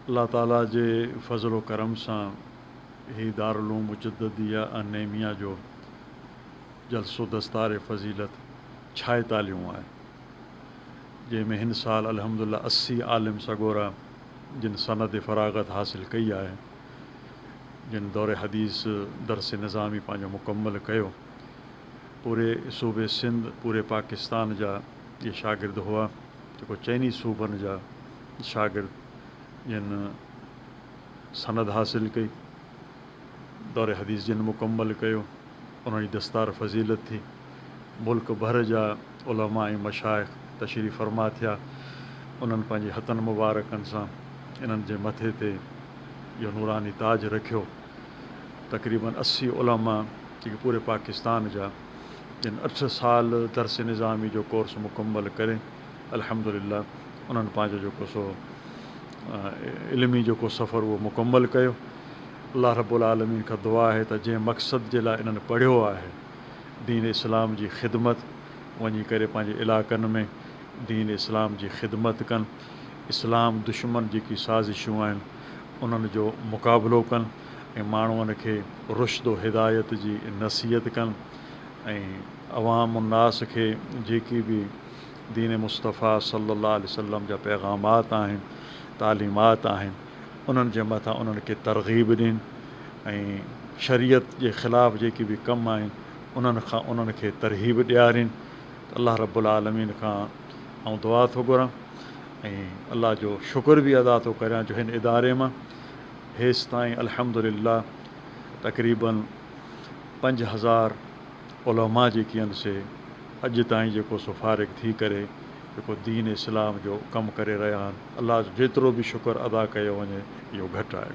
الله تعاليٰ جي فضل و ڪرم سان هي دارالعلوم مجدديه النعيميه جو جلسو دستار فضيلت ڇهه تاليون آهي، جنهن ۾ هن سال الحمدلله اسي عالم سڳورا جن سند فراغت حاصل ڪئي آهي، جن دور حديث درس نظامي پنهنجو مڪمل ڪيو، پوري صوبي سنڌ، پوري پاڪستان جا اهي شاگرد هئا. جيڪو چئني صوبن جا شاگرد جن سند حاصل ڪئي، دور حديث جن مڪمل ڪيو، انهن جي دستار فضيلت ٿي، ملڪ ڀر جا علماء ۽ مشائخ تشريف فرما ٿيا، انهن پنهنجي هٿن مبارڪن سان انهن جي مٿي تي اهو نوراني تاج رکيو، تقريبن اسي علماء جيڪي پوري پاڪستان جا. جن اٺ سال درس نظامي جو ڪورس مڪمل ڪري الحمدلله انهن پنهنجو جيڪو سو علمي جيڪو سفر اهو مڪمل ڪيو الله رب العالمين کان دعا آهي ته جنهن مقصد جي لاء انهن پڙهيو آهي دين اسلام جي خدمت وڃي ڪري پنهنجي علاقن ۾ دين اسلام جي خدمت ڪن اسلام دشمن جيڪي سازشون آهن انهن جو مقابلو ڪن ۽ ماڻهن کي رشد و هدايت جي نصيحت ڪن ۽ عوام الناس کي جيڪي به دين مصطفيٰ صلّي اللّٰه عليه وسلّم جا پيغامات آهن، تعليمات آهن، انهن جي مٿان انهن کي ترغيب ڏين ۽ شريعت جي خلاف جيڪي به ڪم آهن انهن کان انهن کي ترهيب ڏيارين ته الله رب العالمين کان آئون دعا ٿو گهران ۽ الله جو شڪر به ادا ٿو ڪريان جو هن اداري مان هيستائين الحمدلله تقريباً پنج هزار علماء جيڪي آهن سي اڄ تائين جيڪو سو فارغ ٿي ڪري جيڪو دين اسلام جو ڪم ڪري رهيا آهن الله جو جيترو به شڪر ادا ڪيو وڃي اهو گهٽ آهي.